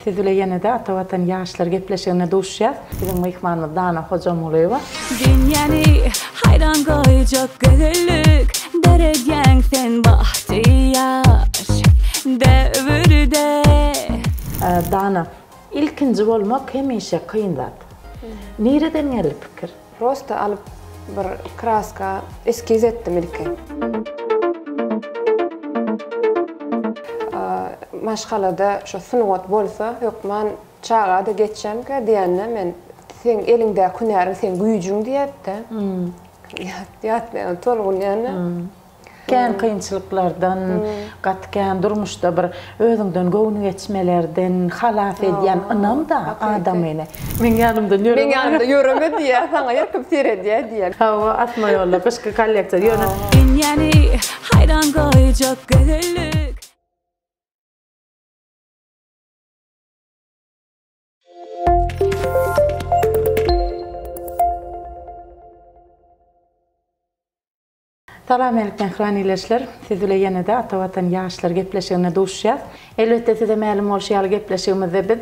Siz bile ýenede Ata Watan ýaşlar gepleşiginde duşýas. Biziň myhmanymyz Dana Hojamulyýewa. Dünýäni haýran goýjak gözellik döredýäň sen bagtyýar döwürde. Dana, ilkinji bolmak hemişe kyn zat. Nireden geldi pikir? Prosta alyp bir kraska eskiz etdim ilki. Maşgalada şu sungat bolsa hökman çagada geçjemkä diýende men seň eliňdäki hünäriň seň güýjüň diýätde. Ýatlaýan tolgunýan. Kän kynçylyklardan, gaty kän durmuşda bir özüňden göwni geçmelerden halas edýän ynam-da adamyny. Meň ýanymdan ýöreme. Meň ýanymdan ýöreme diýýär, saňa her kim seredýär diýýär. Hawa, asma ýolda, gyşky kolleksiýa, ýöne. Dünýäni haýran goýjak gözellik. Salam eltgen gran ileçler. Siz bile ýenede Ata Watan ýaşlar gepleşiginde duşýas. Elbetde size mälim bolşy ýaly gepleşigimizde biz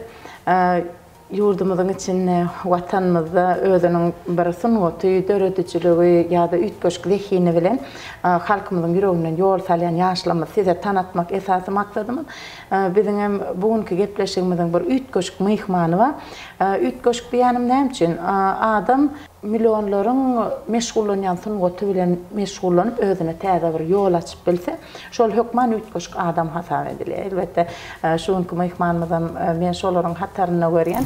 ýurdumyzyň içinde Watanymyzda özüniň bir sungaty, döredijiligi ýa-da üýtgeşik zehini bilen halkymyzyň ýüreginden ýol salýan ýaşlarymyzy size tanatmak esasy maksadymyz. Biziň hem bu günki gepleşigimiziň bir üýtgeşik myhmany bar. Üýtgeşik diýýänim näme üçin? Adam millionlaryň meşgullanýan sungaty bilen meşgullanyp, özüne täze bir ýol açyp bilse, şol hökman üýtgeşik adam hasap edilýär. Elbetde, şu günki myhmanymyzam men şolaryň hatarynda görýän.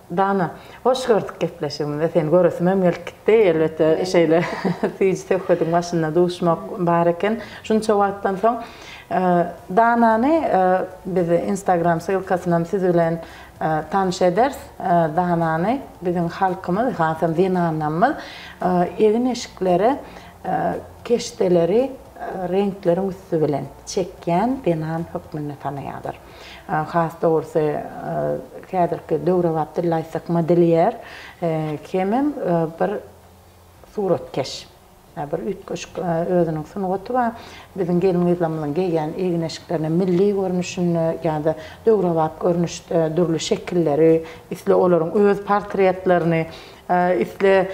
Dana, hoş gördük gepleşigimize seni göresimem gelip gitdi. Elbetde şeýle süýji söhbediň başynda duşmak bar eken. Şunça wagtdan soň Danany biz Instagram ssylkasynam siz bilen tanyş ederis. Danany biziň halkymyz hasam zenanlarymyz egin-eşiklere keşdeleri reňkleriň üsti bilen çekýän zenan hökmünde tanaýarlar. Has dogrusy, häzirki döwrebap dilde aýtsak, modelýer hemem bir suratkeş. Bir üýtgeşik özüniň sungaty bar. Biziň gelin-gyzlarymyzyň geýýän egin-eşiklerine milli görnüşinde ýa-da döwrebap görnüşde dürli şekilleri, isle olaryň öz portretlerini Üsle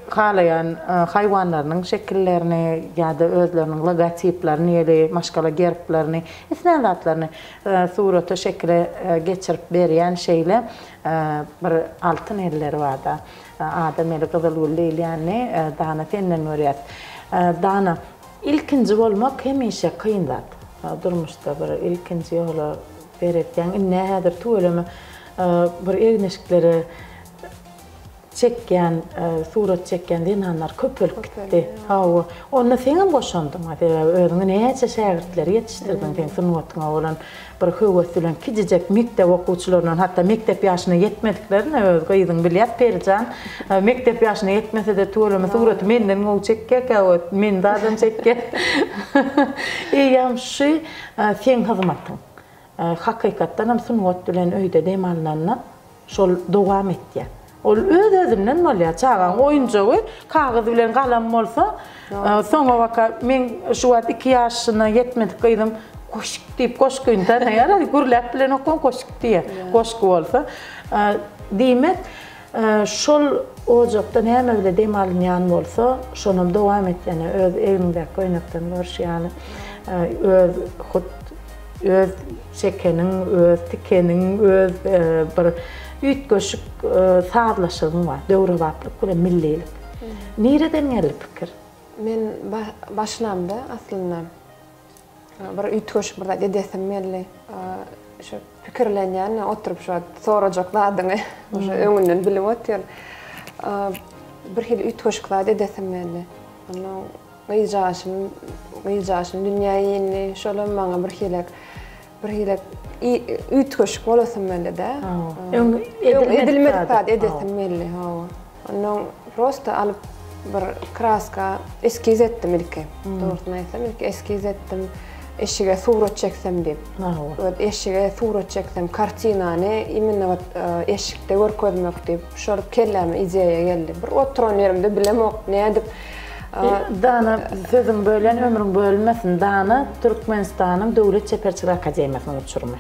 halaýan haýwanlarynyň şekillerini ýa-da özleriniň logotiplerini, ýeli maşgala gerblerini, islän zatlaryny surata, şekile geçirip berýän şeýle bir altyn elleri bar-da. Adam eli gyzyl gül diýilýänini, Dana, senden görýäs. Dana, ilkinji bolmak hemişe kyn zat. Durmuşda bir ilkinji ýola beretýäň. Indi-ä häzir tüweleme bir egin-eşiklere çekýän surat çekýän zenanlar köpelip gitdi hawa onda seňem goşandyňa sebäbi özüňi näçe şägirtleri ýetişdirdiň seň sungatyňa bolan bir höwes bilen kijijek mekdep okuwçylaryndan hatda mekdep ýaşyna ýetmediklerine öz gyzyň bilýär Perijan mekdep ýaşyna ýetmesede tüweleme suraty menden gowy çekýärkä ot meni zadam çekýär eýýäm şu seň hyzmatyň. Hakykatdanam sungat bilen öýde dem alnanda şol dowam etýär. Ol öz-özünden bolýar. Çagaň oýunjagy kagyz bilen galam bolsa, soňabaka meň şu wagt iki ýaşyna ýetmedik gyzym goşik diýip goşgyny tanaýar, gürläp bilenokam goşik diýýär, goşgy bolsa. Diýmek, Şol ojakda näme bile dem alynýan bolsa, şonam dowam et ýene öz egiňdäki köýnekden görşi ýaly öz hut öz çekeniň, öz tikeniň, öz bir üýtgeşik sazlaşygyň bar. Döwrebaplyk bilen millilik. Nireden geldi pikir? Men başlamda aslynda Bir üýtgeşik bir zat edesim geldi. Şu pikirlenýän, oturyp şu sorajak zadyňy uje öňünden bilip otyr. Bir hili üýtgeşik zat edesim geldi. Onda gyzjagaşym, gyzjagaşym dünýä indi. Şolam maňa bir hili bir hili üýtgeşik bolasym geldi-de. Edilmedik zat edesim geldi. Hawa. Ondan prosta alyp bir kraska eskiz etdim ilki. Dogrusyny aýtsam, ilki eskiz etdim. Eşige surat çeksem diýip. Maňa. Eşige surat çeksem, kartinany imенно вот eşikde görkezmek diýip, şol kelläme ideýa geldi. Bir oturan ýerimde bilemok, nädip Dana, sözüňi bölýän, ömrüň bölünmesin. Dana, Türkmenistanyň Döwlet çeperçilik akademiýasynyň uçurymy.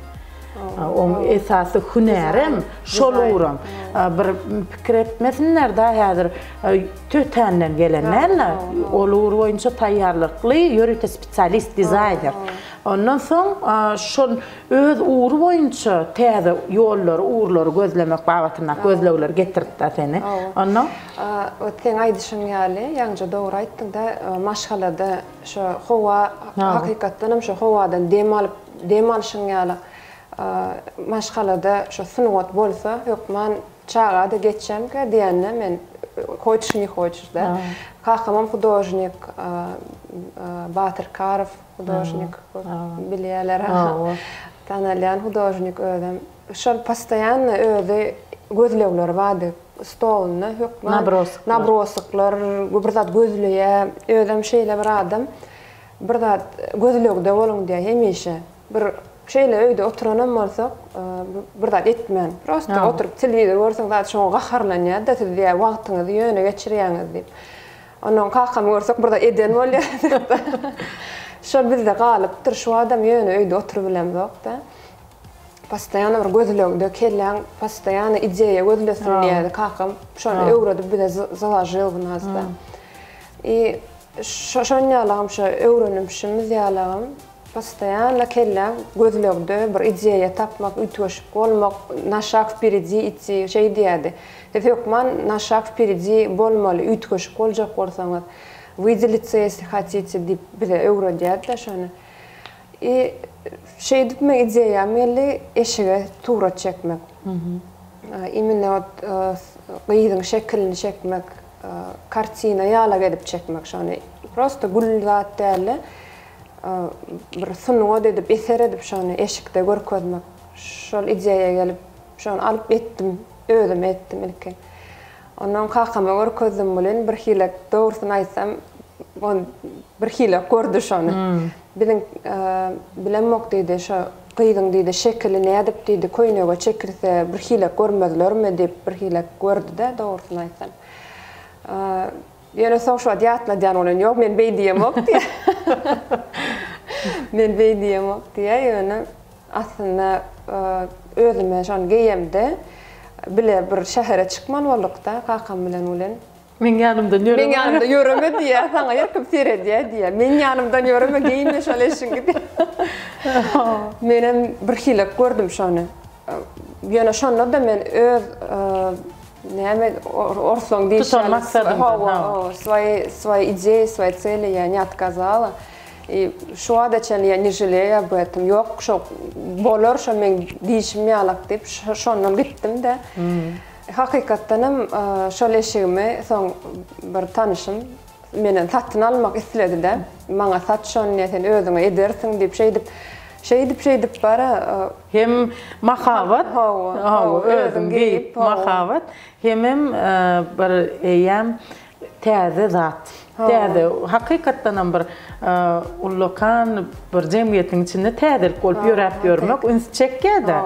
Oň esasy hünärem şol ugran. Bir pikir etmesinler-de häzir tötänden gelen däldir. Ol ugur boýunça taýýarlykly ýörite spesialist, dizaýner. Ondan soň şol öz ugry boýunça täze ýollary, ugurlary gözlemek babatyndaky gözlegleri getirtdi seni. Ondan? Ot seň aýdyşyň ýaly, ýaňja dogry aýtdyňda, maşgalada şo howa, hakykatdanam şo howadan dem alyp, Dem alşyň ýaly maşgalada şu sungat bolsa, hökman çaga-da geçýämkä diýende men hoçuş ne hoçuş da. Kakamam hudožnik, Batyr Karow hudožnik, bilýärler hawa, tanalýan hudožnik özem. Şol postoýanno özi gözlegleri bardy, stolunda hökman nabrosoklar, bir zat gözleýär. Özem şeýle bir adam. Bir zat gözlegde boluň diýýär hemişe. Bir şeýle öýde oturanam bolsak, bir zat etmän, prosta oturyp telewizor görseň zat şoňa gaharlanýar-da, siz diýýär wagtyňyzy ýöne geçirýäňiz diýip. Onnoň kakamy görsek bir zat eden bolýarys-da. Şol bizde galypdyr, şu badam ýöne öýde oturyp bilemzok-da. Postoýan bir gözlegde, kelläň postoýan ideýa gözlesin diýýärdi kakam. Şony öwredip bize založil bu nazda. I şoň ýalagam şo öwrenimşimiz ýalagam postoýanno kellä gözlegde bir ideýa tapmak üýtgeşik bolmak na şag wperidi idti şeý diýädi siz hökman na şag wperidi bolmaly üýtgeşik boljak bolsaňyz wydelice ýesli hatite diýip bize öwredýädida şony I şeýdip meň ideýam geldi eşige surat çekmek immine ot gyzyň şekilini çekmek. kartina ýalak edip çekmek şony prosta gül zat dälde bir sungat edip eser edip şony eşikde görkezmek şol ideýa gelip şony alyp etdim özüm etdim ilki ondan kakama görkezdim bul in birhilek dogrusyny aýtsam on birhilek gördi şony Biziň bilemok diýdi şo gyzyň diýdi şekili nädip diýdi köýnege çekilse bir hile görmezlermi diýip bir hile gördide dogrusyny aýtsam ýöne soň şuwagt ýatladýan bolýan ýok men beý diýemok diýä men beý diýemok diýä ýöne aslynda özüme şony geýemde bile bir şähere çykmaly boldukda kakam bilen ulen. Meň ýanymdan ýöreme. Meň ýanymda ýöreme diýýä, saňa her kim seredýä diýýä. Meň ýanymdan ýöreme, geýinme şol eşiňi diýýä. Menem bir hilek gördüm şony. Ýöne şonda-da men öz näme orslaň diýýär. Hawa, swoýe swoýe ideýe, swoýe cele ýa ne otkazala. I şu wagta çenli ýa ne želeýa ýa betem. Ýok, şo bolar, şo meň diýşim ýalak diýip, şondan gitdim-de. Hakykatdan hem şol eşigimi soň bir tanyşym menden satyn almak isledi-de, maňa sat şony diýýär, sen özüňe edersiň diýip şeýdip, şeýdip şeýdip bara. Hem mahabat, hawa, özüň geýip mahabat, hemem bir eýýäm täze zat, täze, hakykatdanam bir ullakan bir jemgyýetiň içinde täzelik bolup ýöräp ýörmek üns çekýär-de.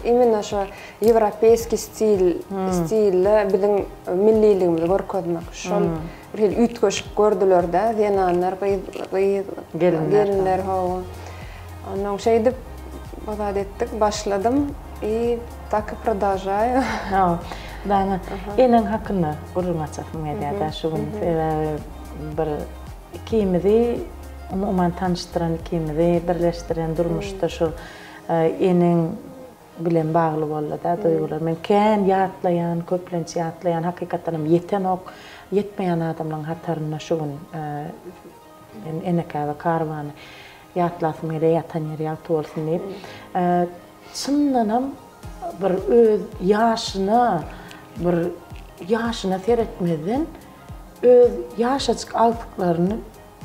Imенно şo ýewropeýskiý stil, stilde biziň milliligimizi görkezmek. Şol bir hili üýtgeşik gördüler-de zenanlar, gyz, gyz, gelinler, hawa. Ondan şeýdip bu zat etdik, başladym i tak i prodolžaýu. Dana, eneň hakynda gürrüň açasym gelýär-de şu gün. Sebäbi bir ikimizi umuman tanyşdyran, ikimizi birleşdiren durmuşda şu eneň bilen bagly boldy-da duýgular. Men kän ýatlaýan, köplenç ýatlaýan, hakykatdanam ýetenok, ýetmeýän adamlaryň hatarynda şu gün. Men Enekäbe karwany ýatlasym gelýär, ýatan ýeri ýagty bolsun diýip. Çyndanam bir öz ýaşyna bir ýaşyna seretmezden öz ýaşajyk agtyklaryny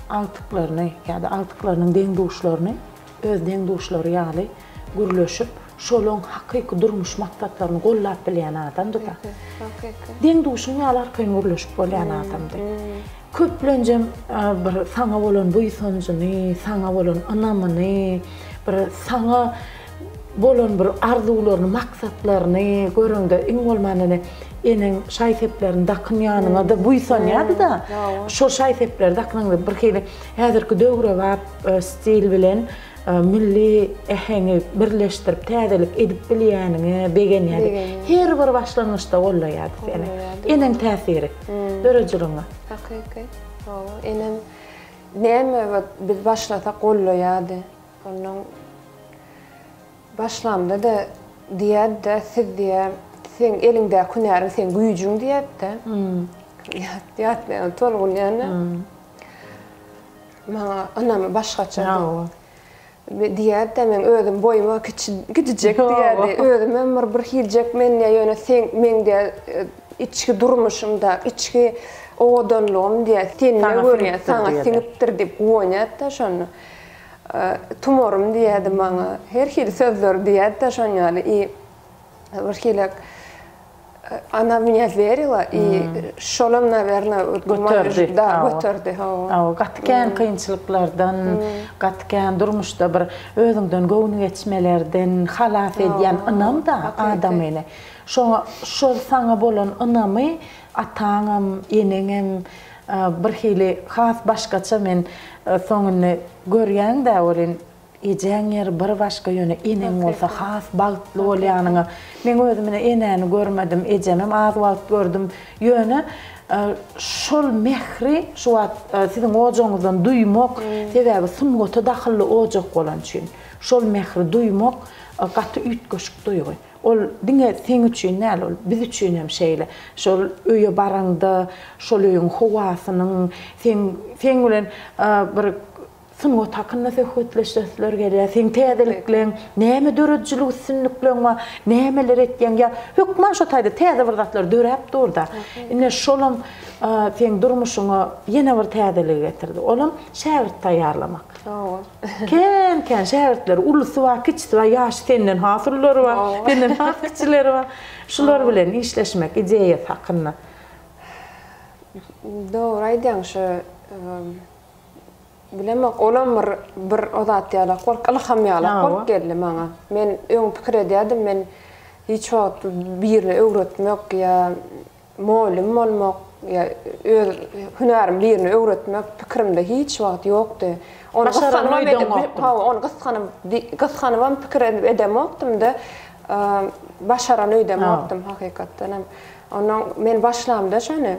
agtyklaryny ýa-da agtyklarynyň deň-duşlaryny öz deň-duşlary ýaly Gürleşip, şolaň hakyky durmuş maksatlaryny gollap bilýän adamdy-da. Hakyky. Deň-duşuň ýaly arkaýyn gürleşip bolýan adamdy. Köplenjem bir saňa bolan buýsanjyny, saňa bolan ynamyny, bir saňa bolan bir arzuwlaryny, maksatlaryny göreňde iň bolmanda ene, eneň şaý-seplerini dakyn ýanyňa-da buýsanýardy-da. Şol şaý-sepleri dakynyňda birhili häzirki döwrebap stil bilen Milli äheňi birleşdirip täzelik edip bilýäniňe begenýärdi. Her bir başlangyçda gollaýardy seni. Eneň täsiri döredijiligiňe. Hakyky. Hawa, enem näme bot biz başlasak gollaýardy. Onnoň başlamda-da diýerdi-de, siz diýer, seň eliňdäki hünäriň seň güýjüň diýerdi-de. Ýatlaýan, tolgunýan-a. Maňa ynamy başgaçady. Diýerdi-de, men özüm boýuma kiçi, kiçijek diýerdi. Özümem bir birhiljek men diýä, ýöne sen, meň diýä, içki durmuşymda, içki owadanlygym diýä, sende görýän, saňa siňipdir diýip guwanýardy-da şonda. Tumarym diýerdi maňa. Her hili sözleri diýerdi-de şon ýaly. I birhilek. Ana mňa verila i şolam naverna göterdi göterdi hawa gaty kän kynçylyklardan gaty kän durmuşda bir özüňden göwni geçmelerden halas edýän ynam da adamyny şoňa şol saňa bolan ynamy ataňam eneňem birhili has başgaça men soň indi görýäňdä welin Ejäň ýeri bir başga ýöne eneň bolsa has bagtly bolýanyňa meň özüm ine enäni görmedim ejemem az wagt gördüm ýöne şol mähri şu wagt siziň ojagyňyzdan duýmak sebäbi sungata dahylly ojak bolan üçin şol mähri duýmak gaty üýtgeşik duýgy ol diňe seň üçin däl ol biz üçinem şeýle şol öýe baraňda şol öýüň howasynyň seň seň bilen bir Sungat hakynda söhbetleşesiler gelýär. Seň täzelikleň, näme döredijilik üstünlikleň bar, nämeler etýäň? Ýa hökman şo taýda täze bir zatlar döräp dur-da. Ine, şolam seň durmuşyňa ýene bir täzeligi getirdi. Olam şägirt taýýarlamak. Kän-kän şägirtleri, ulusy bar, kiçisi bar, ýaşy senden has ululary bar, senden has kiçileri bar. Şular bilen işleşmek ideýasy hakynda. Dogry aýdýaň, şu Bilemok, olam bir bir o zat ýalak bolup, ylham ýalak bolup geldi maňa. Men öň pikir edýärdim, men hiç wagt birini öwretmek ýa mugallym bolmak ýa öz hünärimi birine öwretmek pikirimde hiç wagt ýokdy. Ony gysganybam edip, hawa, ony gyskanyp, gysganybam pikir edip edemokdym-da, başaran öýdemokdym hakykatdanam. Onnoň men başlamda şony.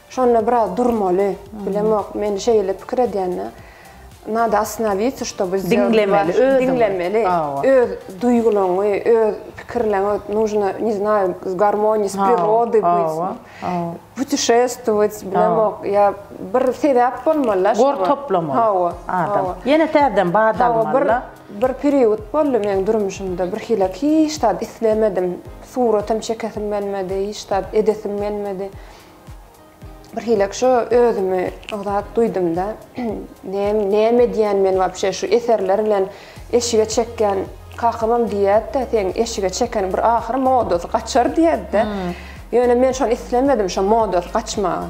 Şonda biraz durmaly. Bilemok, men şeýle pikir edýän-de. Nada ostanowitsa, ştoby sdelati. Diňlemeli özüňi. Diňlemeli. Hawa. Öz duýgulaňy, öz pikirleňi nujno, ne znaýu, w garmonii s prirodii byt. Hawa, hawa. Putişestwowat, bilemok, ýa bir sebäp bolmaly-da şoňa. Gor toplamaly. Hawa, hawa. Ýene täzeden bat almaly-da. Hawa, bir, bir perýod boldy meň durmuşymda, birhili hiç zat islemedim. Suratam çekesim gelmedi, hiç zat edesim gelmedi. bir hilek şu özümi ozat duýdumda näme edýän men wapşe şu eserler bilen eşige çekýän kakamam diýýärdi-de seň eşige çeken bir ahyr modasy gaçar diýerdi-de ýöne men şony islemedim şo modasy gaçmagy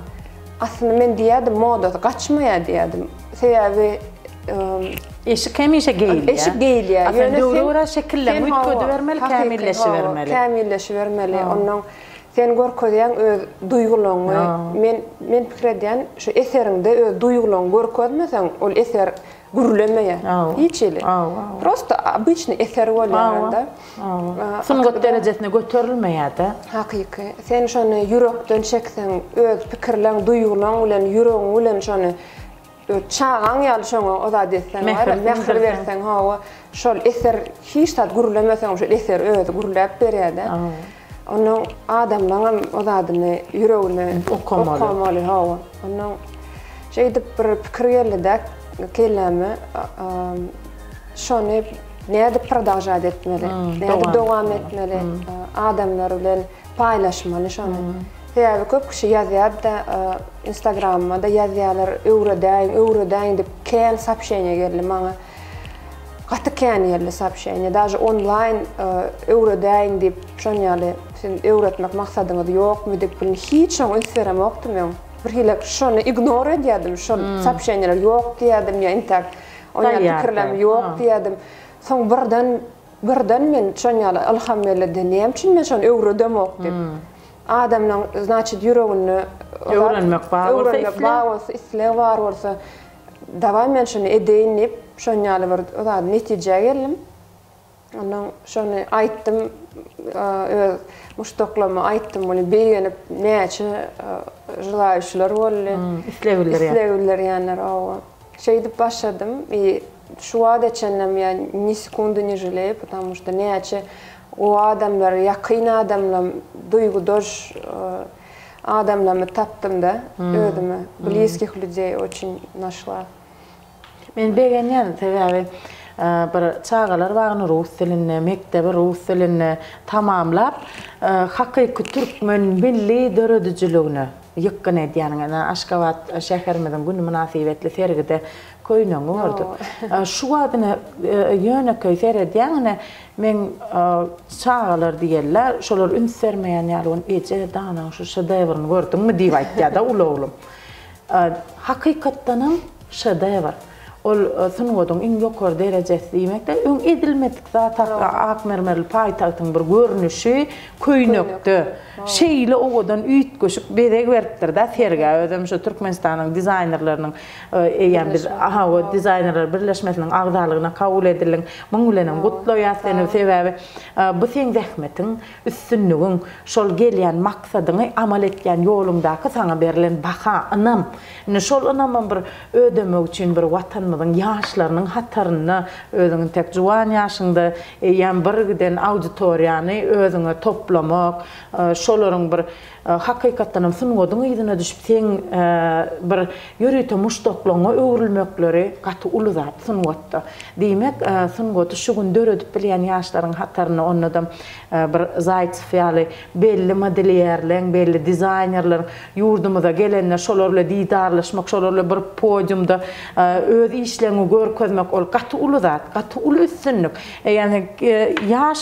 aslynda men diýýärdim modasy gaçmaýar diýýärdim sebäbi eşik hemişe geýilýär eşik geýilýär ýöne döwre görä şekillenip üýtgedibermeli kämilleşibermeli kämilleşibermeli onnoň Sen görkezýäň öz duýgulaňňy. Men men pikir edýän, şu eseriňde öz duýgulaňňy görkezmeseň, ol eser gürlemeýär. Hiç hili. Prosta obyçny eser bolýar onda. Sungat derejesine göterilmeýär-de. Hakyky. Sen şony ýürekden çekseň, öz pikirleň, duýgulaň bilen, ýüregiň bilen şony. Öz çagaň ýaly şoňa o zady etseň bar ya, mähir berseň hawa, şol eser hiç zat gürlemeseňem şol eser özi gürläp berýärde. Ondan adamlaňam o zadyny ýüregine okamaly hawa. Ondan şeýdip bir pikir geldida kelläme şony nädip prodalžat etmeli, nädip dowam etmeli adamlar bilen. Paýlaşmaly şony. Sebäbi köp kişi ýazýarda, instagramymada ýazýarlar, öwredäýiň, öwredäýiň diýip, kän soobşeniýa geldi maňa. Gaty kän geldi soobşeniýa, daže onlaýn öwredäýiň diýip, şon ýaly siziň öwretmek maksadyňyz ýokmy diýip, bilin hiç şoňa üns beremokdym öň. Birhili şony ignor edýärdim, şol soobşeniýalar ýok diýýärdim ýa intäk oýa pikirlem ýok diýýärdim. Soň birden Birden men şon ýaly ylham berildi, näme üçin men şony öwredemok diýip. Adamlaň znaçit ýüreginde öwrenmek bar bolsa, öwrenmek bar bolsa, isleg bar bolsa, dawaý men şuny edeýin diýip, şon ýaly bir zady netijä geldim. Ondan şony aýtdym, öz muşdaklaryma aýtdym, muny begenip näçe želaýuçylar boldy. Isleg bildirýän. Isleg bildirýänler, hawa. Şeýdip başladym i şu wada çenlem ýa ni sekundy ni želeýu patamu što näçe gowy adamlar ýakyn adamlam duýgudaş adamlamy tapdymda özüme bliskih lýudey oçin našla. Men begenýän sebäbi bir çagalar bagyny rus dilinde mekdebi rus dilinde tamamlap hakyky türkmen milli döredijiligine. Ýykgyn edýäniň ene, Aşgabat şäherimiziň güni mynasybetli sergide köýnegiňi gördük. Şu wagt ine ýönekeý seredýäň ine, meň çagalar diýerler, şolar üns bermeýän ýaly bolýar, Eje, Danaň şu şedewryny gördüňmi? diýip aýtýar-da uly oglum. Hakykatdanam şedewr. Ol sungatyň iň ýokary derejesi diýmek-de, öň edilmedik zat hakda ak mermerli paýtagtyň bir görnüşi köýnekde şeýle owadan üýtgeşik bezeg beripdir-dä sergä. Özem şu Türkmenistanyň dizaýnerleriniň eýýäm biz Ahawa dizaýnerler birleşmesiniň agzalygyna kabul edildiň. Muň bilenem gutlaýas seni. Sebäbi bu seň zähmetiň, üstünligiň, şol gelýän maksadyňy amal etýän ýoluňdaky saňa berlen baha, ynam. Indi şol ynamym bir ödemek üçin bir Watanymyzyň ýaşlarynyň hatarynda özüň intek juwan ýaşyňda eýýäm bir giden auditoriýany özüňe toplamak, şolaryň bir hakykatdan hem sungatyň yzyna düşüp seň bir ýörite muşdaklaryňa öwrülmekleri gaty uly zat sungatda. Diýmek, sungaty şu gün döredip bilýän ýaşlaryň hatarynda onda-da bir Zaýtsew ýaly belli modelýerleriň, belli dizaýnerleriň ýurdumyza gelende şolar bilen didarlaşmak, şolar bilen bir podiumda öz işleňi görkezmek, ol gaty uly zat, gaty uly üstünlik. Ýagny ýaş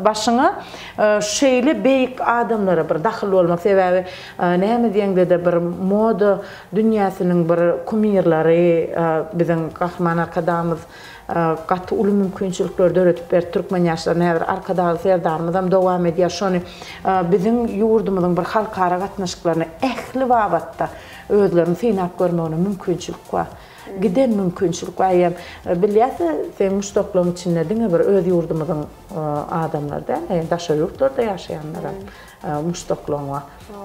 başyňa şeýle beýik adamlara bir dahyl bolmak, sebäbi näme diýeňde-de bir moda dünýäsiniň bir kumirleri biziň Gahryman Arkadagymyz gaty uly mümkinçilikleri döredip berdi türkmen ýaşlaryna häzir Arkadagly Serdarymyzam dowam edýär şony biziň ýurdumyzyň bir halkara gatnaşyklaryna ähli babatda özlerini synap görmegine mümkinçilik bar giden mümkinçilik bar eýýäm bilýäsä seň muşdaklaň içinde diňe bir öz ýurdumyzyň adamlary däl eýýäm daşary ýurtlarda ýaşaýanlaram muşdaklaryňa,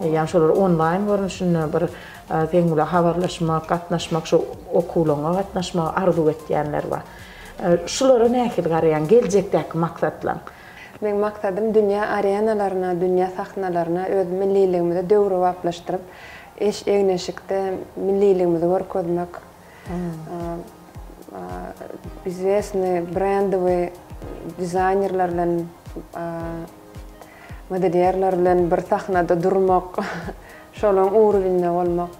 ýagny şolar onlaýn görnüşinde bir seň bilen habarlaşmak, gatnaşmak, şu okuwlaryňa gatnaşmagy arzuw etýänler bar. Şulara nähili garaýaň, geljekdäki maksatlaň? Meň maksadym dünýä arenalaryna, dünýä sahnalaryna öz milliligimizi döwrebaplaşdyryp, eş-egin-eşikde milliligimizi görkezmek, izwesnyý brendowyý dizaýnerler bilen Modelýerler bilen bir sahnada durmak, şolaň urwinde bolmak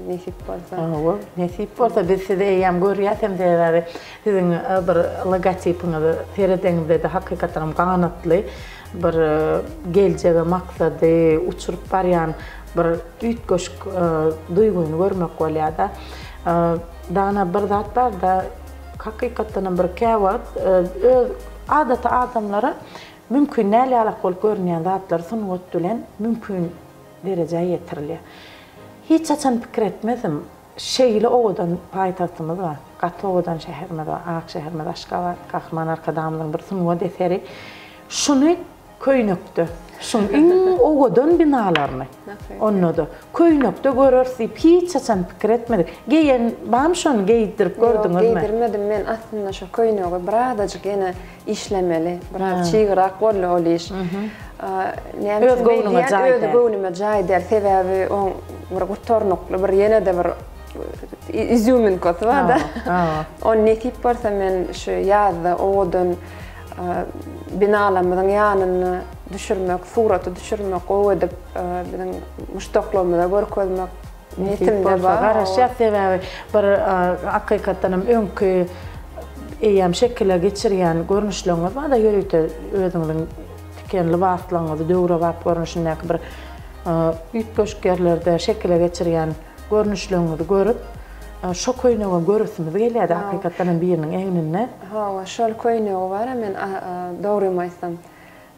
nesip bolsa. Hawa, nesip bolsa biz sizi eýýäm görýäs hem sebäbi siziň bir logotipiňizi seredeňizde-de hakykatdanam ganatly bir geljege maksady uçuryp barýan bir üýtgeşik duýgyny görmek bolýar-da. Dana bir zat bar-da, hakykatdanam bir käwagt öz adaty adamlara Mümkin däl ýalak bolup görünýän zatlar sungat bilen mümkin derejä ýetirilýär. Hiç haçan pikir etmezdim, şeýle owadan paýtagtymyz bar, gaty owadan şäherimiz bar, ak şäherimiz Aşgabat, Gahryman Arkadagymyzyň bir sungat eseri şuny köýnekde, şuň iň owadan binalaryny, onda-da, köýnekde göreris diýip hiç haçan pikir etmedik. Geýen barmy şony, geýdirip gördüňizmi? Ýok, geýdirmedim men, aslynda şo köýnegi birazajyk ýene Işlemeli, biraz çygrak bolly ol iş. Öz göwnüme jaý däl. Öz göwnüme jaý däl, sebäbi oň bir gutarnykly bir ýene-de bir izýuminkasy bar-da. Ony nesip bolsa men şu ýazda owadan binalarymyzyň ýanyna düşürmek, suraty düşürmek, gowy edip biziň muşdaklarymyza görkezmek Nesip bolsa garaşýas sebäbi bir akykatdanam öňki eýýäm şekile geçirýän görnüşleriňiz barda ýörite özüňiziň tiken lybaslaryňyzy döwrebap görnüşindäki bir üýtgeşik ýerlerde şekile geçirýän görnüşleriňizi görüp şo köýnegem göresimiz gelýärdi hakykatdanam biriniň egninde. Hawa şol köýnegi bar men dogrymy aýtsam.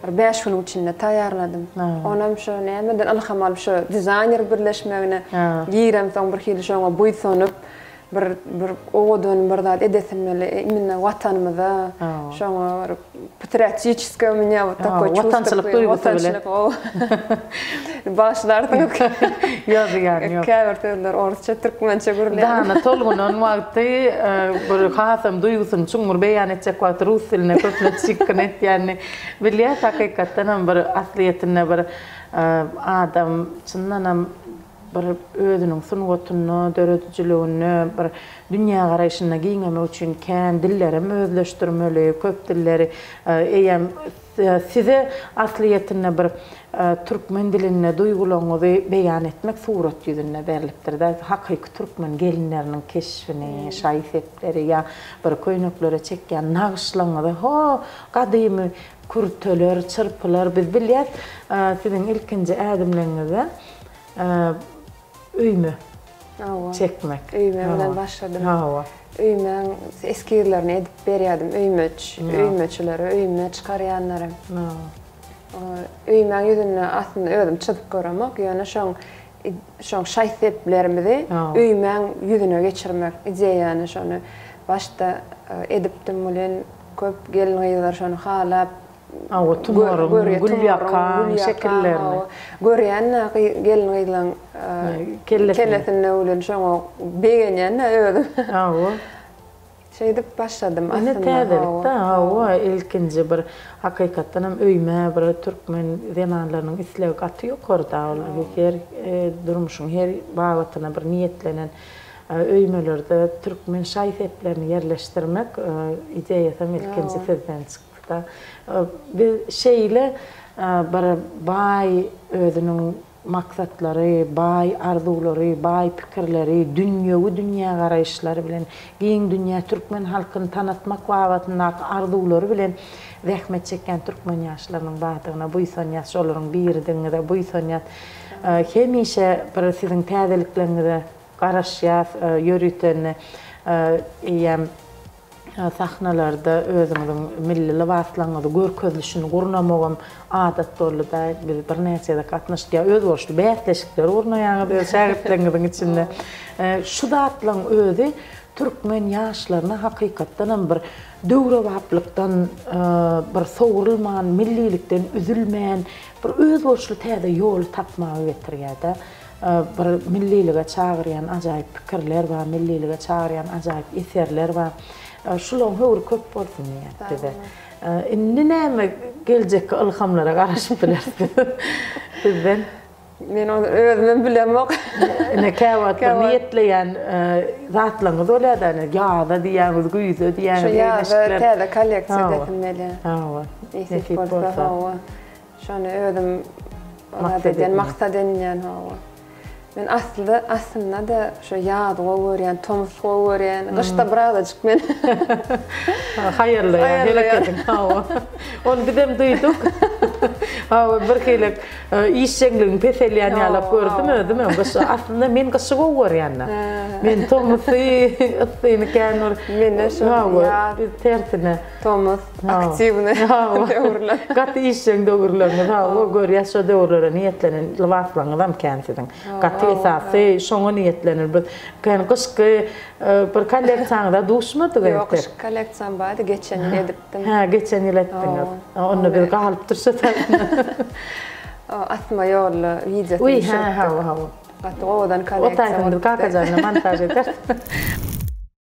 Bir bäş günüň içinde taýýarladym. Onam şu nämeden ylham alyp şu dizaýner birleşmegine giremsoň birhili şoňa buýsanyp bir bir owadan bir zat edesim geldi. Imminno watanymyza şoňa bir patriotiçeskiý u menya wot takoý çuwstwo. Watançylyk duýgusy bilen. Bagyşlarsyňyz. Ýok, zyýany ýok. Käbir sözler orsça, türkmençe gürleýär. Dana tolgunan wagty, bir hasam duýgusyny çuňňur beýan etjek wagty rus diline köplenç çykgyn etýänini bilýäs. Hakykatdan hem bir aslyýetinde bir adam çyndanam bir özüniň sungatynda, döredijiliginde bir dünýägaraýşyny giňemek üçin kän dillerem özleşdirmeli, köp dilleri eýýäm Size aslyýetinde bir türkmen dilinde duýgularyňyzy beýan etmek surat ýüzünde berlipdir-dä, hakyky türkmen gelinleriniň keşbini, şaý-sepleri ýa bir köýneklere çekýän nagyşlaryňyzy, ho, gadymy kürteler, çyrpylar, biz bilýäs, siziň ilkinji ädimleriňizde Öýme çekmek. Öýme bilen başladym. Hawa. Öýmäň eskizlerini edip berýärdim. Öýmeç, öýmeçileri, öýme çykarýanlary. Öýmäň ýüzünde aslynda özüm çyzyp göremok, ýöne şoň şoň şaý-seplerimizi öýmäň ýüzüne geçirmek ideýany şony başda edipdim welin köp gelin-gyzlar şony halap, Hawa, tumaryň, gülýakaň şekillerini. Görýän-dä gelin-gyzlaň kellesinde ulyny şoňa begenýän-dä özüm. Hawa. Şeýdip başladym aslynda. Ine täzelik-dä, hawa, ilkinji bir hakykatdan hem öýme bir türkmen zenanlarynyň islegi gaty ýokarda, ol her durmuşyň her babatynda bir niýetlenen öýmelerde türkmen şaý-seplerini ýerleşdirmek ideýasy hem ilkinji sizden çykdy. Biz şeýle bir baý özüniň maksatlary, baý arzuwlary, baý pikirleri, dünýewi dünýägaraýyşlary bilen giň dünýä türkmen halkyny tanatmak babatyndaky arzuwlary bilen zähmet çekýän türkmen ýaşlarynyň bardygyna buýsanýas, şolaryň biridigiňize buýsanýas. Hemişe bir siziň täzelikleriňize garaşýas, ýörütende eýýäm. Sahnalarda özüňiziň milli lybaslaryňyzy görkezilişini gurnamagam adat boldy-da. Biz birnäçede gatnaşyk, ýa özboluşly bäsleşikleri gurnaýaňyz öz şägirtleriňiziň içinde. Şu zatlaryň özi türkmen ýaşlaryna hakykatdan hem bir döwrebaplykdan bir sowrulman, millilikden üzülmän, bir özboluşly täze ýoly tapmaga getirýär-de. Bir millilige çagyrýan ajaýyp pikirler bar, millilige çagyrýan ajaýyp eserler bar. Şularyň höwri köp bolsun diýýäs size. Indi näme geljekki ylhamlara garaşyp bileris biz sizden? Men ony özümem bilemok. Ine käwagt bir niýetleýän zatlaryňyz bolýar-da, ine ýaza diýýäňiz, güýze diýýäňiz. Şu ýaza täze kolleksiýa getirmeli. Hawa. Nesip bolsa. Şony özüm maksat edýän, maksat edinýän hawa. Men asly aslynda-da şu ýazy gowy görýän, tomus gowy görýän, gyşda birazajyk men haýallaýan, herek ediň, hawa. Ony bizem duýduk. Hawa, birhili işjeňligiň peselýän ýalap gördüm özüm hem gyşy. Aslynda men gyşy gowy görýän-de. Men tomusy, yssyny kän bir, hawa, tersine. Tomus, aktiwny döwürler. Gaty işjeň döwürleriňiz, hawa, görýäs şo döwürlere niýetlenen lybaslaryňyzam kän siziň. Gaty esasy şoňa niýetlenilip biz kän gyşky bir kolleksiýaňyza duşmadyk entek. Ýok, gyşky kolleksiýam bardy, geçen ýyl edipdim. Hä, geçen ýyl etdiňiz. Onda biz galypdyr şo O asma ýolly wideo düşüripdik. Hä, hawa, hawa. Gaty owadan kolleksiýa bolupdy. Otaýsam biz Kakajan bilen montaž ederis.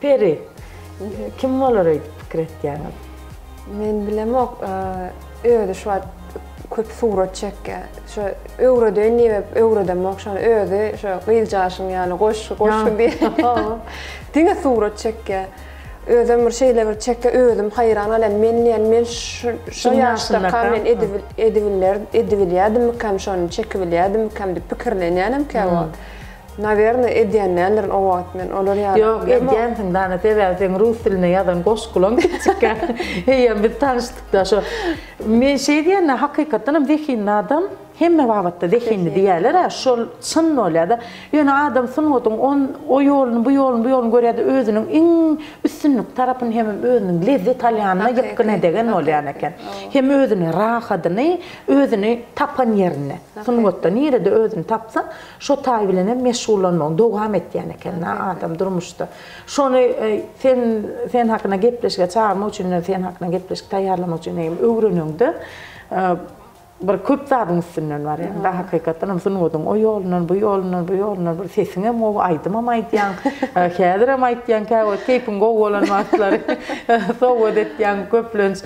Peri, kim bolar öýdüp pikir etýäňiz? Men bilemok, özi şu wagt köp surat çekýär. Şo öwredeýin diýibem öwredemok şony, özi şo gyzjagaşyň ýaly goşgy, goşgy diýip diňe surat çekýär. Özem bir şeýle bir çekýär, özüm haýran galýan, men diýýän, men şu ýaşdaka men edibilýärdimmikam şony, çekibilýärdimikam diýip pikirlenýänem käwagt. Nawerne edýändendirin o wagt men olar ýaly. Ýok edýänsiň dana sebäbi seň rus dilinde ýazan goşgulaň kiçikkä eýýäm biz tanyşdykda şo men şeý diýende hakykatdanam zehinli adam hemme babatda zehinli diýýälera şol çyn bolýada ýöne adam sungatyň on o ýoluny bu ýoluny bu ýoluny görýäde özüniň iň üstünlikli tarapyny hemem özüniň lezzet alýanyna ýykgyn edegen bolýan eken hem özüne rahadyny özüni tapan ýerinde sungatda nirede özüni tapsa Şo taý bilenem meşgullanmagyny dowam etýän eken-dä adam durmuşda. Şony sen sen hakyna gepleşige çagyrmak üçin, sen hakyna gepleşik taýýarlamak üçin eýýäm öwreneňde, bir köp zadyň üstünden barýaň-da, hakykatdan hem sungatyň o ýolundan, bu ýolundan, bu ýolundan bir sesiň hem gowy, aýdymam aýdýaň, häzirem aýtýaň, käwagt keýpiň gowy bolan wagtlary sowgat etýäň köplenç.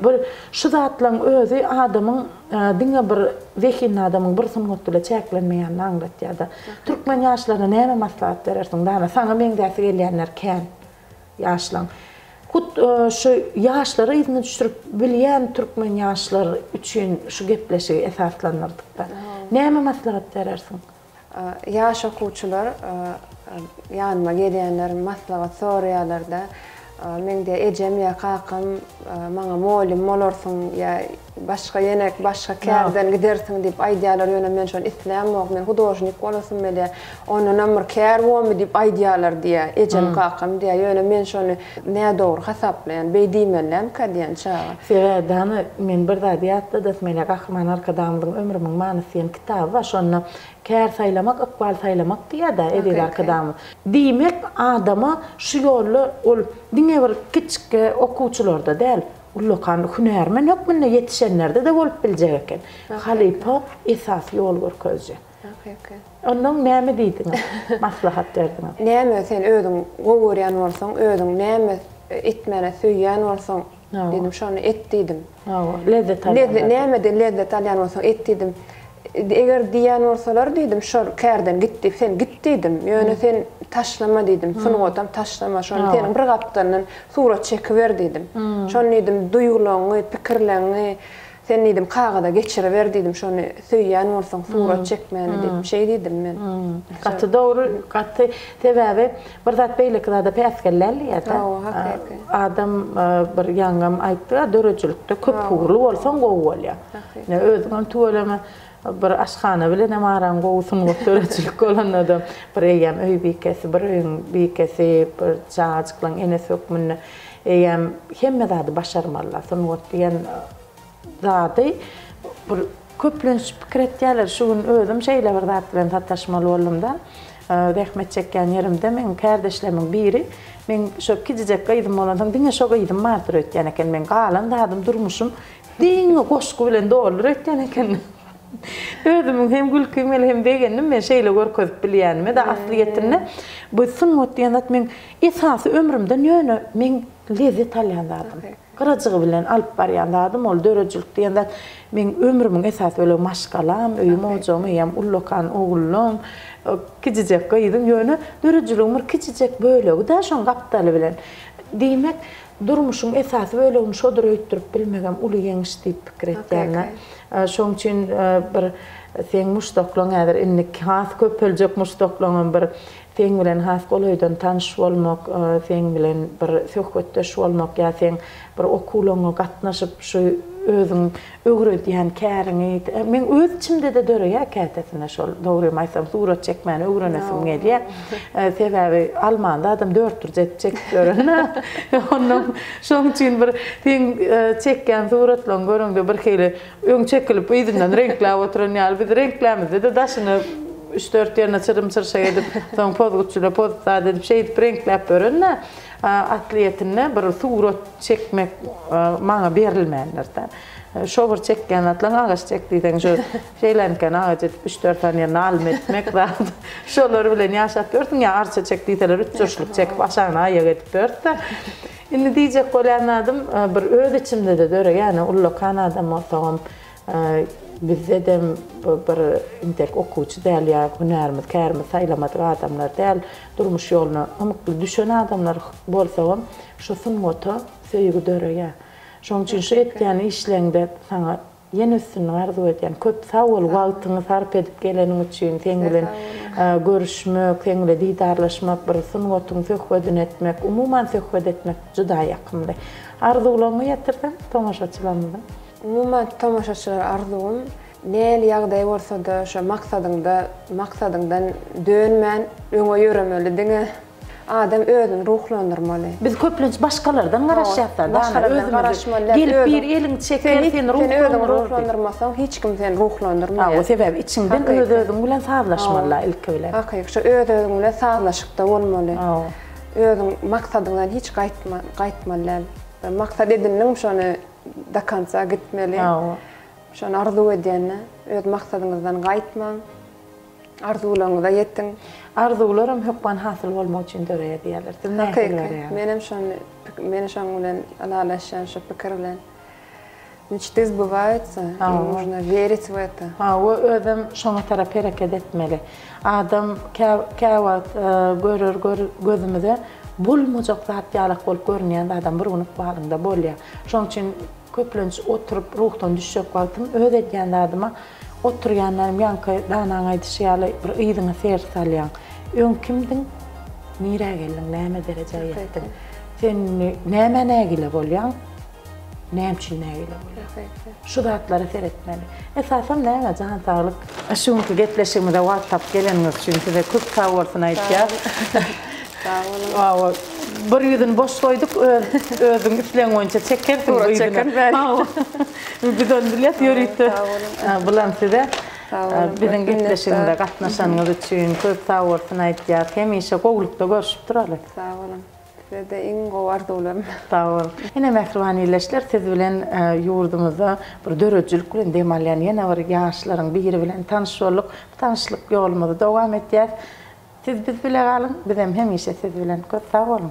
Bir şu zatlaryň özi adamyň. diňe bir zehinli adamyň bir sungat bile çäklenmeýänini aňlatýar-da. Türkmen ýaşlaryna näme maslahat berersiň? Dana, saňa meňzäsi gelýänler kän ýaşlaň. Hut şu ýaşlary yzyna düşürip bilýän türkmen ýaşlar üçin şu gepleşigi esaslandyrdyk-da. Näme maslahat berersiň? Ýaş okuwçylar ýanyma gelýänler, maslahat soraýarlar-da, Meň diýýär, ejem ýa kakam maňa mugallym bolarsyň ýa başga ýene başga kärden gidersiň diýip aýdýarlar, ýöne men şony islämok, men hudožnik bolasym gelýär. Ondanam bir kär bormy diýip aýdýarlar diýýär, ejem, kakam diýýär. Ýöne men şony nädogry hasaplaýan, beý diýmelilämka diýýän çaga. Sebäbi, hany, men bir zady ýatladasym gelýär, Gahryman Arkadagymyzyň Ömrümiň manysy diýen. Kitaby bar, şonda Kär saýlamak, ykbal saýlamak diýýär-dä eziz Arkadagymyz. Diýmek, adama şu ýolda ol diňe bir kiçikki okuwçylarda däl, ullakan hünärmen hökmünde ýetişenlerde-de bolup biljek eken. Halypa, esasy ýol görkeziji. Onnoň näme diýdiňiz, maslahat berdiňiz? Näme sen özüň gowy görýän bolsaň, özüň näme etmäni söýýän bolsaň, Diýdim, şony et diýdim. Hawa, lezzet alýan zat. Nämeden lezzet alýan bolsaň et diýdim. Eger diýýän bolsalar diýdim, şol kärden git diýip, sen git diýdim. Ýöne sen taşlama diýdim, sungatam taşlama. Şony seniň bir gapdalyndan surat çekiber diýdim. Şony diýdim, duýgulaňňy, pikirleňňi Sen diýdim, kagyza geçiriber diýdim, şony söýýän bolsaň surat çekmäni diýip, şeý diýdim men. Gaty dogry, gaty. Sebäbi bir zat beýleki zada päsgellän diýýär-dä. Hawa, hakyky. Adam bir ýaňam aýtdy-a, döredijilikde köpugurly bolsaň gowy bolýar. Hakyky. Ine, özüňem tüweleme. Bir aşhana bilenem araň gowy sungat döredijilik bolanada bir eýýäm öý bikesi bir öýüň bikesi bir çagajyklaň enesi hökmünde eýýäm hemme zady başarmalylar sungat diýen zady bir köplenç pikir etýäler şu gün özüm şeýle bir zat bilen sataşmaly boldumda zähmet çekýän ýerimde meň kärdeşlemiň biri meň şo kiçijek gyzym bolansoň diňe şo gyzym bardyr öýtýän eken meň galan zadym durmuşym Diňe goşgy bilen doldur öýtýän eken. Özümiň hem gülkim geldi hem begendim men şeýle görkezip bilýänime de aslyýetinde bu sungat diýen zat meň esasy ömrümden ýöne meň lezzet alýan zadym. Gyrajygy bilen alyp barýan zadym ol döredijilik diýen zat meň ömrümiň esasy bölegi maşgalam öýüm ojagym eýýäm ullakan oglum kijijek gyzym ýöne döredijiligim bir kijijek bölegi-dä şoň gapdaly bilen diýmek Durmuşyň esasy bölegini şodur öýtdürip bilmegem uly ýeňiş diýip pikir etýärin-ä. Şoň üçin bir seň muşdaklaň häzir indi has köpeljek muşdaklaňam bir seň bilen has golaýdan tanyş bolmak, seň bilen bir söhbetdeş bolmak ýa seň bir okuwlaňňa gatnaşyp şu özüň Öwredýän käriňi diýip, meň öz içimde-de döreýär kätesinde şol. Dogrymy aýtsam, surat çekmäni öwrenesim gelýär. Sebäbi alman zadym dört bir zat çekip ýören-ä. Onnoň şoň üçin bir seň çekýän suratlaryňy göreňde birhili öň çekilip yzyndan reňkläp oturan ýaly. Biz reňklämizde-de daşyny üç-dört ýerine çyrym-çyrşak edip, soň pozguçyla poz zat edip şeýdip reňkläp ýören-ä. Aslyýetinde bir surat. Çekmek maňa berilmändir-dä. Şo bir çekýän zatlaň agaç çek diýseň şu şeýleniken agaç edip üç-dört sany ýerine alym etmek zat. Şolar bilen ýaşap ýörsüň ýa arça çek diýseler üç jurşluk çekip aşagyna aýak edip ýörüs-dä. Indi diýjek bolýan zadym bir öz içimde-de döreýän ullakan adam bolsagam Bizdedem bir intek okuwçy däl ýa hünärimiz kärimiz saýlamadyk adamlar däl, durmuş ýoluna ymykly düşen adamlar bolsagam şu sungata söýgi döreýär. Şoň üçin şu etýän işleňde saňa ýene üstünlik arzuw edýän. Köp sag bol wagtyňy sarp edip geleniň üçin, seň bilen görüşmek, seň bilen didarlaşmak, bir sungatyň söhbedini etmek, umuman söhbet etmek juda ýakymly. Arzuwlaryňy ýetirseň tomaşaçylarymyzyň. Umuman tomaşaçylara arzuwym, nähili ýagdaý bolsa-da şo maksadyňda, maksadyňdan dönmän öňe ýöremeli diňe. Adam özüni ruhlandyrmaly. Biz köplenç başgalardan garaşýas da, dana, özümizi gelip bir eliň çeker, seni ruhlandyrmasaň hiç kim seni ruhlandyrmaýar. Hawa, sebäbi içiňden öz-özüň bilen sazlaşmaly-da ilki bilen. Hakyky, şo öz-özüň bilen sazlaşykda bolmaly. Özüň maksadyňdan hiç gaýtmaly däl. Bir maksat edindiňmi şony do konca gitmeli. Hawa. Şony arzuw edýän-de, öz maksadyňyzdan gaýtmaň. Arzuwlaryňyza ýetiň. Arzuwlar hem hökman hasyl bolmak üçin döreýär diýýärler. Siz nähili görýäňiz? Hakyky. Menem şony, men şoň bilen ylalaşýan şu pikir bilen. Mçty zbywaýutsa, im nujno werýt w eta. Hawa, özem şoňa tarap hereket etmeli. Adam käwagt görer gözümize bolmajak zat ýalak bolup görünýän adam bir gün ykbalyňda bolýar. Şonuň üçin köplenç oturyp ruhdan düşjek wagtym öz edýän zadyma oturýanlarym ýaňky danaň aýdyşy ýaly bir yzyňa ser salýaň. Öň kimdiň? Nirä geldiň? Näme derejä ýetdiň? Sen nämä nägile bolýaň? Näme üçin nägile bolýar? Şu zatlara seretmeli. Esasan näme? Jan saglyk. Şu günki gepleşigimize wagt tapyp geleniňiz üçin size köp sag bolsun aýtýas. Sag boluň. Bir ýüzüni boş goýduk, özüň islegiň boýunça çekersiň bu ýüzüni. Sura çekerin. Biz ony bilýäs ýörite. Bulam size biziň gepleşigimize gatnaşanyňyz üçin köp sag bolsun aýtýas. Hemişe gowulykda görşüp duraly. Sag boluň. Sizede iň gowy arzuwlarym. Sag bol. Ene mähriban ildeşler siz bilen ýurdumyzda bir döredijilik bilen dem alýan ýene bir ýaşlaryň biri bilen tanyş bolduk. Bu tanyşlyk ýolumyzy dowam etýäs. Siz biz bile galyň, bizem hemişe siz bilen. Köp sag boluň.